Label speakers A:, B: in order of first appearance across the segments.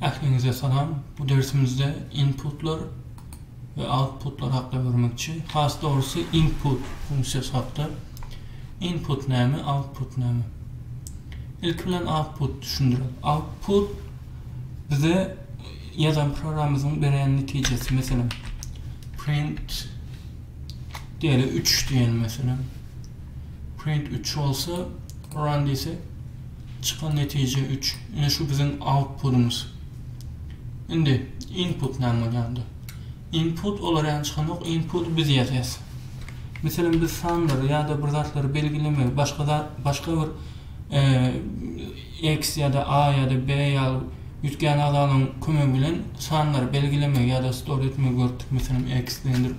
A: Ähliňize salam. Bu dersimizde inputlar we outputlar hakda görmekçi. Has dogrusy input funksiýasy hakda. Input näme, output näme? Ilki bilen output düşündirek. Output bize ýazan programymyzyň beren netijesi. Meselem, print diýeli 3 diýeli meselem. Print 3 bolsa run diýsek Çykan netije üç. Ine şu biziň autpudymyz. Indi input näme bolýar onda? Input olar ýaly çykanok, inputy biz ýazýas. Meselem biz sanlary ýa-da bir zatlary belgilemegi başga zat başga bir X ýa-da A ýa-da B ýaly üýtgän agzalaryň kömegi bilen sanlary belgilemegi ýa-da store etmegi görüpdik. Meselem X diýendir.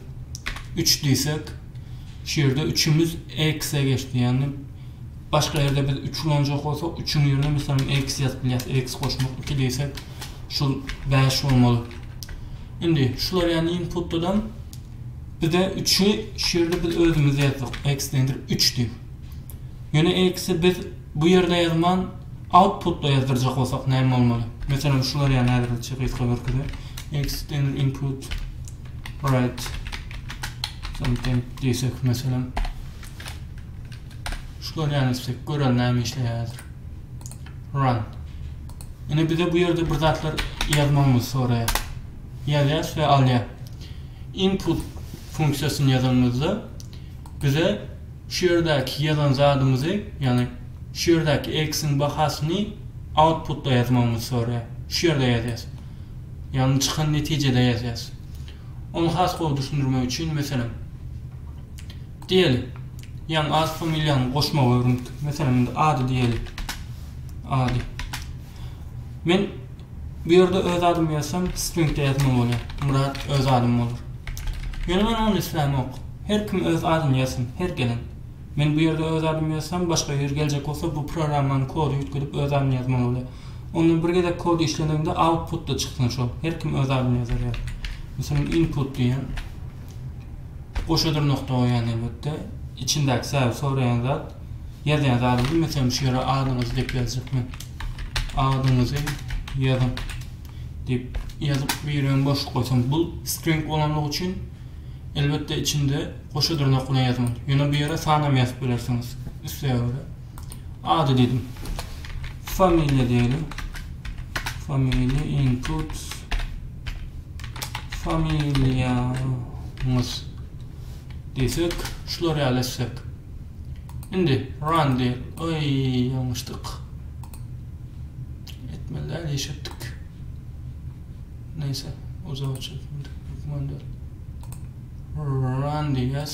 A: 3 diýsek, şu ýerde üçümiz X-e geçdi. Ýagny Başga ýerde biz üç ulanjak bolsak, üçüň ýerine meselem X ýazyp bilýäs. X goşmak, iki diýsek, şol bäş bolmaly. Indi şular ýaly inputladan bize üçi şu ýerde biz özümiz ýazdyk. X deňdir üç diýip. Ýöne X-i biz bu ýerde ýazman, outputda ýazdyrjak bolsak näme bolmaly? Meselem şular ýaly häzirlikçe gysga görkezýän. X deňdir input write something diýsek meselem. Şu görýäniz istek gören näme işleýärdir. Run. Ine bize bu ýerde bir zatlar ýazmagymyzy soraýar. Ýazýas we alýar. Input funksiýasyny ýazanymyzda bize şu ýerdäki ýazan zadymyzy, ýagny şu ýerdäki x-iň bahasyny outputda ýazmagymyzy soraýar. Şu ýerde ýazýas. Ýagny çykan netijede ýazýas. Ony has gowy düşündirmek üçin, meselem, Diýeli, ýaňy at familiýaňy goşmagy öwrendik. Meselem, indi ady diýeli. Ady. Men bu ýerde öz adymy ýazsam, stringde ýazmaly bolýar. Myrat öz adym bolar. Ýöne meniň ony islämok. Her kim öz adyny ýazsyn, her gelen. Men bu ýerde öz adymy ýazsam, başga biri geljek bolsa, bu programmanyň kody üýtgedip öz adyny ýazmaly bolýar. Ondan bir gezek kod işlenende output-da çyksyn şol. Her kim öz adyny ýazar ýaly. Meselem, input diýýän. goşa dyrnak doýýan elbetde içindäki säwik soraýan zat ýazýan zady bilmesem şu ýere adyňyzy diýip ýazjak men adyňyzy ýazyň diýip ýazyp bu ýere hem boşluk goýsam bu string bolanlygy üçin elbetde içinde goşa dyrnak bilen ýazmaly ýöne bu ýere sanam ýazyp bilersiňiz isleýä görä. Ady diýdim. Familiýa diýelim. Familiýa input familiýamyz diýsek, şular ýaly etsek. Indi run diýip, oý, ýalňyşdyk. Etmeli däl, iş etdik. Neyse, uzak çekmedik. Run diýýäs.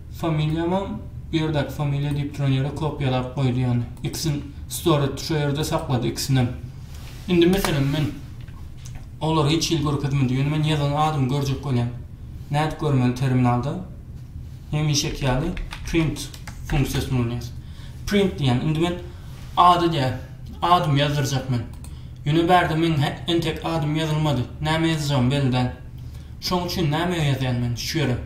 A: Familiýamam bu ýerdäki familiýa diýip duran ýere kopiýalap goýdy ýany. Ikisini store etdi, şo ýerde saklady ikisinem. Indi meselem men olary hiç hili görkezmedim, ýöne men ýazan adymy görjek bolýan. Nädip görmeli terminalda? Hemişeki ýaly print funksiýasyny ulanýas. Print diýýän. Indi men ad edýän. Adymy ýazdyrjak men. Ýöne bärde meň entek adym ýazylmady. Näme ýazjagymy belli däl. Şoň üçin näme ýazýan men şu ýere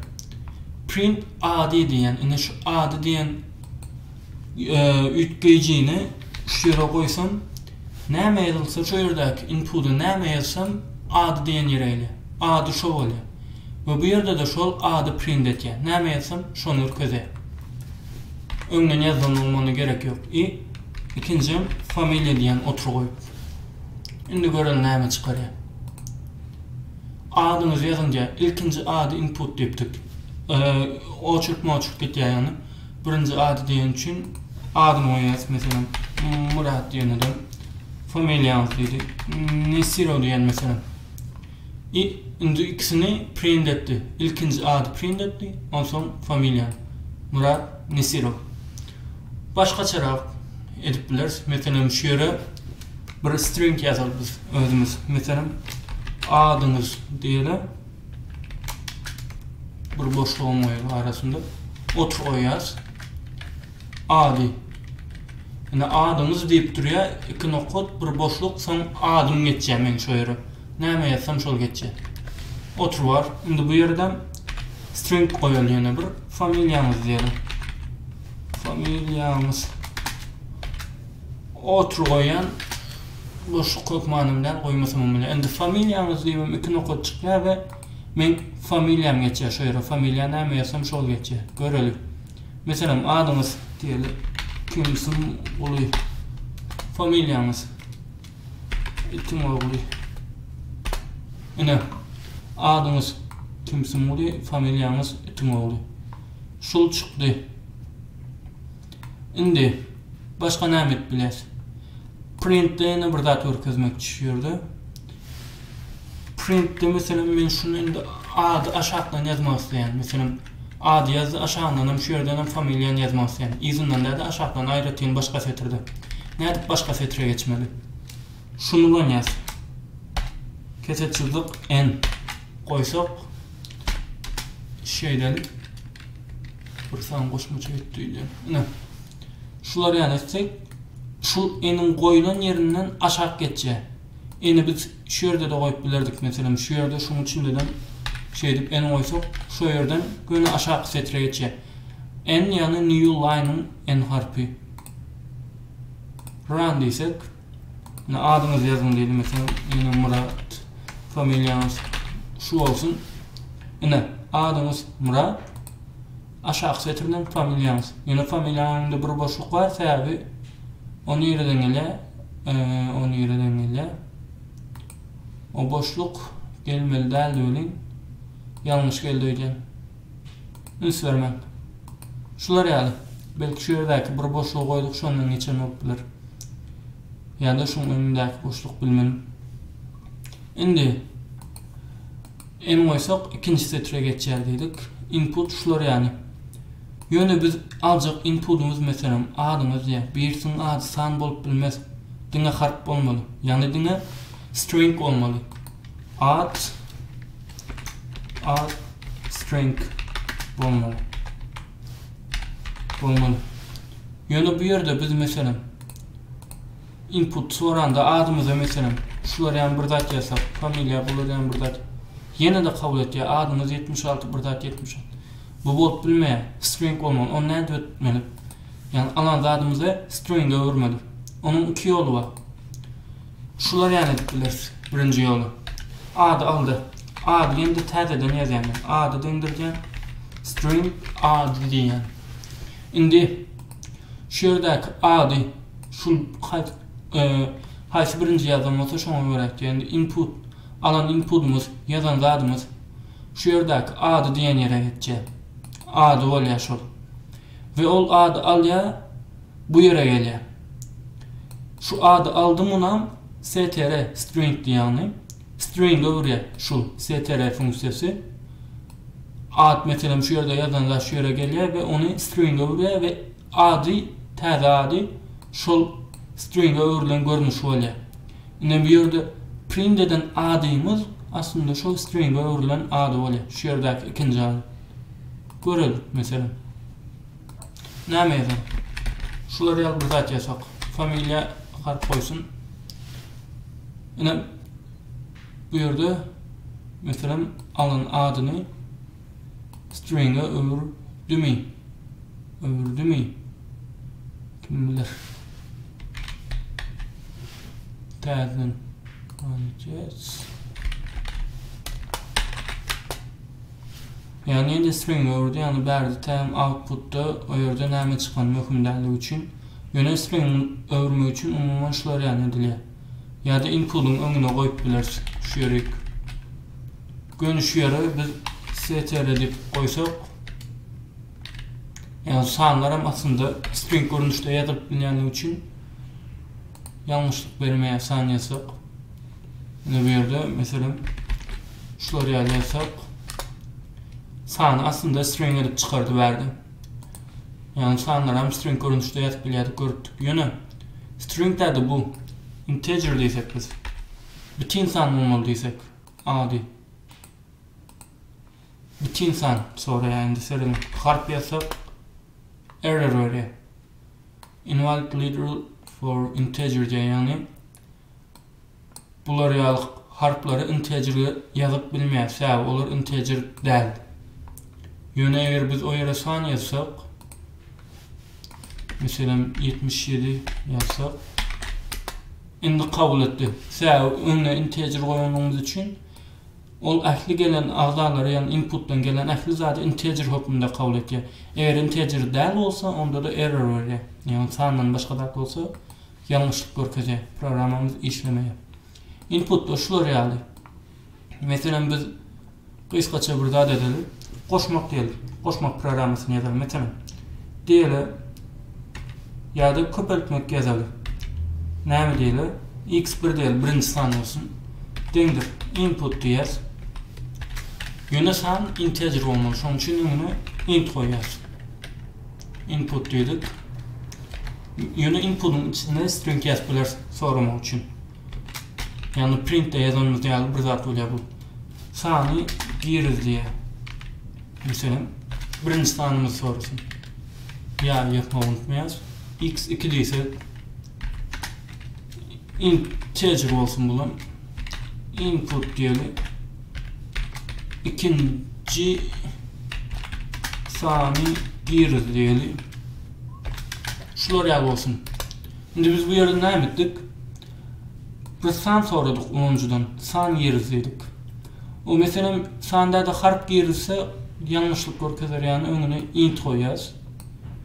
A: print ady diýýän indi şu ady diýen üýtgeýjini şu ýere goýsam näme ýazylsa şu ýerdäki inpuda näme ýazsam ady diýen ýere gelýär ady şo bolýar we bu ýerde-de şol ady print etýär näme ýazsam şony ürkezýär öňden ýazandygyma onda gerek ýok i ikinjim familiýa diýen otry goýup Indi görelim näme çykarýar. Adyňyzy ýazyň diýýär. Ilkinji ady input diýipdik. Oçurk moçurk gitýär ýagny. Birinji ady diýen üçin adyny goýýas meselem Murat diýen adam. Familiýaňyz diýdi. Nesirow diýen meselem. I nji ikisini print etdi. Ilkinji ady print etdi, onsoň familiýany. Murat Nesirow. Başgaçarak edip bileris. Meselem, şu ýere bir string ýazalyp biz özümiz. Meselem, adyňyz diýeli. Bir boşlugam goýaly arasynda. Otur goýýas. Ady. Ine adyňyz diýip durýar. Iki nokat, bir boşluk, soň adym geçýär meň şu ýere. Näme ýazsam şol geçýär. Otur bar. Indi bu ýerden string goýaly ýene bir familiýaňyz diýelim. Familiýaňyz. Otur goýan boşluk hökmany bilen goýmasam bilen. Indi familiýaňyz diýmem iki nokat çykýar we men familiýam geçýär şu ýere. Familiýa näme ýazsam şol geçýär. Görelim. Meselem adyňyz diýelim. Kimsin Uly. Familiýaňyz. Itiň ogly. Ine, adyňyz Kimsumguly, familiýaňyz Itiň ogly. Şul çykdy. Indi başga näme edip bileris? Printde ýene bir zat görkezmekçi şu ýerde. Printde meselem men şuny indi ady aşakdan ýazmak isleýän. Meselem Ady ýazdy, aşagyndanam şu ýerdenem familiýany ýazmaly sen. Yzyndan däde aşakdan aýratyn başga setirde. Nädip başga setre geçmeli? Şunulam ýaz. Kese çyzyk N goýsak şeýdeli. Bir san goşmaça etdi. Ine. Şular ýaly etsek, şu N-iň goýlan ýerinden aşak geçýär. N-i biz Şu ýerde-de goýup bilerdik, meselem, şu ýerde şuň üçindedem şeýdip en goýsak, şo ýerden göni aşaky setre geçýär. En ýagny new line-yň en harpy. Run diýsek, ine adyňyzy ýazyň diýeli, meselem, ýene Myrat, familiýaňyz şu bolsun. Ine, adyňyz Myrat. Aşaky setirden familiýaňyz. Ýöne familiýanyň öňünde bir boşluk bar sebäbi o nireden gelýä o nireden gelýä o boşluk gelmeli däldi welin ýalňyş geldi öýdýän üns bermäň şular ýaly belki şu ýerdäki bir boşlugy goýduk şondan geçen bolup biler ýa-da şuň öňündäki boşluk bilmedim indi Emin goýsak, ikinji setre geçýär diýdik. Input şular ýaly. Ýöne biz aljak inpudymyz meselem, adyňyz diýýär. Bu ýersiň ady san bolup bilmez. Diňe harp bolmaly. Ýagny diňe string bolmaly. Ad ad string bolmaly. Bolmaly. Ýöne bu ýerde biz meselem Input soranda adymyza meselem şular ýaly bir zat ýazsak, familiýa bular ýaly bir zat ýene-de kabul etýär, adymyz ýetmiş alty bir zat ýetmiş alty. Bu bolup bilmeýär, string bolmaly. Ony nädip etmeli? Ýagny alan zadymyzy stringe öwürmeli. Onuň iki ýoly bar. Şular ýaly edip bileris. Birinji ýoly. Ady aldy. Ady ýene-de täzeden ýazýan. Ady deňdirýän string ady diýýän. Indi şu ýerdäki ady Şul haýsy birinji ýazan bolsa şoňa görä etýän input alan inpudymyz ýazan zadymyz şu ýerdäki ady diýen ýere geçýär ady bolýar şol we ol ady alýar bu ýere gelýär şu ady aldy munam str string diýýäni string öwürýär şul str funksiýasy at meselem şu ýerde ýazan zat şu ýere gelýär we ony string öwürýär we Ady, täze ady şol stringa öwrülen görnüşi bolýar. Ine bu ýerde print eden adymyz aslynda şol stringa öwrülen ady bolýar. Şu ýerdäki ikinji ady. Görelik, meselem. Näme ýazaň? Şular ýaly bir zat ýazsak. Familiýa harp goýsun. Ine bu ýerde meselem alan adyny Stringe öwürdimi? Öwürdimi? Kim bilir. Täzeden göreceğiz. Yani indi string öwürdi, yani bärde täm outputda o yerde näme çykan möhüm däli üçin. Yöne string öwürme üçin umuman şular yani edilýär. Ya da inputun öňüne goyup bilersiz. Şu yerik. Göniş ýeri biz CTRL edip goýsak, ýagny sanlar hem aslynda string görnüşde ýazylyp bilýänligi üçin ýalňyşlyk bermeýär san ýazsak. Ine bu ýerde meselem şular ýaly ýazsak sany aslynda string edip çykardy bärde. Ýagny sanlar hem string görnüşde ýazyp bilýärdik görüpdik. Ýöne string täze bu integer diýsek biz. Bütin san bolmaly diýsek. Ady. Bitin san soraýar indi sözüni harp ýazsak error berýär. Invalid literal for integer diýýär ýagny bular ýaly harplary integerge ýazyp bilmeýär sebäbi olar integer däl. Ýöne eger biz o ýere san ýazsak meselem ýetmiş ýedi ýazsak Indi kabul etdik. Sä öňe integer goýanlygyňyz üçin ol ähli gelen agzalary ýagny inputdan gelen ähli zady integer hökmünde kabul etýär. Eger integer däl bolsa onda-da error berýär. Ýagny sandan başga zat bolsa ýalňyşlyk görkezýär. Programmamyz işlemeýär. Inputlar şular ýaly. Meselem biz gysgaça bir zat edeli. Goşmak diýeli. Goşmak programmasyny ýazaly. Meselem diýeli ýa-da köpeltmek ýazaly. Näme diýeli? X1 diýeli, birinji san bolsun. Deňdir. Input diýer. Ýöne san integer bolmaly. Şonuň üçin öňüne int goýýar. Input diýdik. Ýöne inputyň içinde string ýazyp biler soramak üçin. Ýagny printde ýazanymyz ýaly bir zat bolýar bu. Sany giriz diýýär. Meselem, birinji sanymyz sorasyn. Ýaly ýazmagy unutmaýarys. X 2 diýse integer bolsun bulam. Input diýeli. Ikinji sany giriz diýeli. Şular ýaly bolsun. Indi biz bu ýerden näme etdik? Biz san soradyk ulanyjydan. San giriz diýdik. O meselem sanda-da harp girizse ýalňyşlyk görkezer ýaly öňüne int goýýas.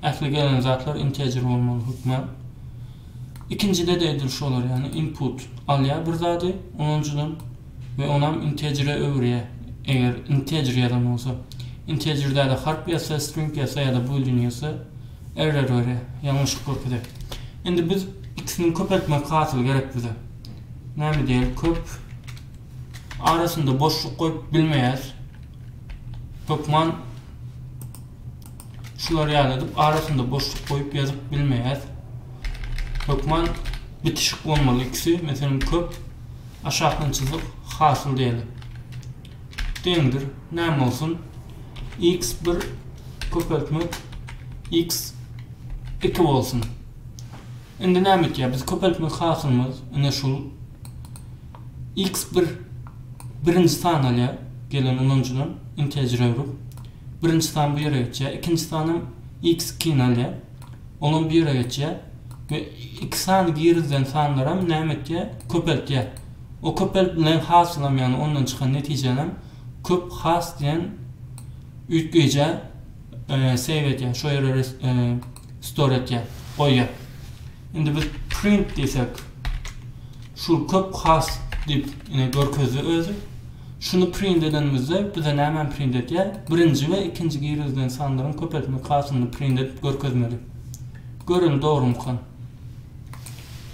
A: Ähli gelen zatlar integer bolmaly hökman. Ikinjide-de edil şu bolar ýaly input alýar bir zady ulanyjydan we onam integere öwürýär. Eger integer ýazan bolsa. Integer-de harp ýazsa, string ýazsa ýa-da boolean ýazsa Error görýä ýalňyşlyk görkezýä. Indi biz ikisiniň köpeltmek hasyly gerek bize. Näme diýeli köp arasynda boşluk goýup bilmeýäs. Hökman şular ýaly edip arasynda boşluk goýup ýazyp bilmeýäs. Hökman bitişik bolmaly ikisi. Meselem köp aşakdan çyzyk hasyl diýeli. deňdir näme bolsun x bir köpeltme x iki bolsun indi näme etýär biz köpeltmek hasylymyz ine şul x bir birinji san alýar gelen ulanyjydan integer urip birinji san bu ýere geçýär ikinji san hem x ikini alýar olam bu ýere geçýär we iki sany girizlen sanlaram näme etýär köpeltýär. O köpelip bilen hasylam ýagny ondan çykan netijänem köp has diýen üýtgeýjä save etýär şo ýere store etýär goýýar indi biz print diýsek şu köp has diýip ine görkezdi özi şuny print edenimizde bize nämeni print etýär birinji we ikinji girizilen sanlaryň köpeltme hasylyny print edip görkezmeli göreli dogrumykan.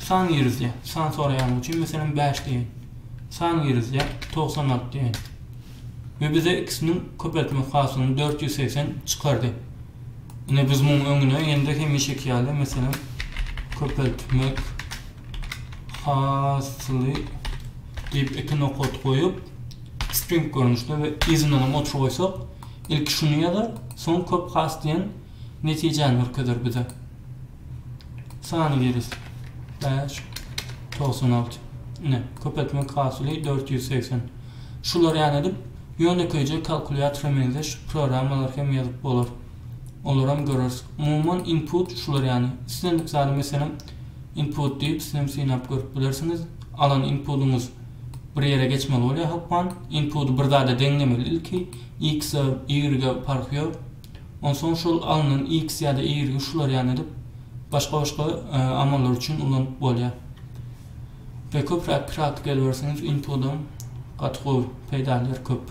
A: San girizýär. San soraýanyň üçin, meselem, bäş diýen. San girizýär, togsan alty diýen. We bize ikisiniň köpeltmek hasylyny dört ýüz segsen çykardy. Ine, biz munuň öňüne indi hemişeki ýaly, meselem, köpeltmek hasyly diýip, iki nokat goýup, string görnüşde we yzyndanam otur goýsak, ilki şuny ýazar, soň köp has diýen netijäni görkezer bize. sany giris bäş togsan alty ine köpeltmek hasyly dört ýüz segsen şular ýaly edip ýönekeýje kalkulýatora meňzeş programmalary hem ýazyp bolar olaram göreris umuman input şular ýaly islendik zady meselem input diýip siz hem synap görüp bilersiňiz alan inpudyňyz bir ýere geçmeli bolýar hökman inpudy bir zada deňlemeli ilki x-e y-e parhy ýok. Onsoň şol alnan X ýa-da Y-i şular ýaly edip, başga-başga amallar üçin ulanyp bolýar. We köpräk praktika ediberseňiz, input-am gaty gowy, peýdalary köp.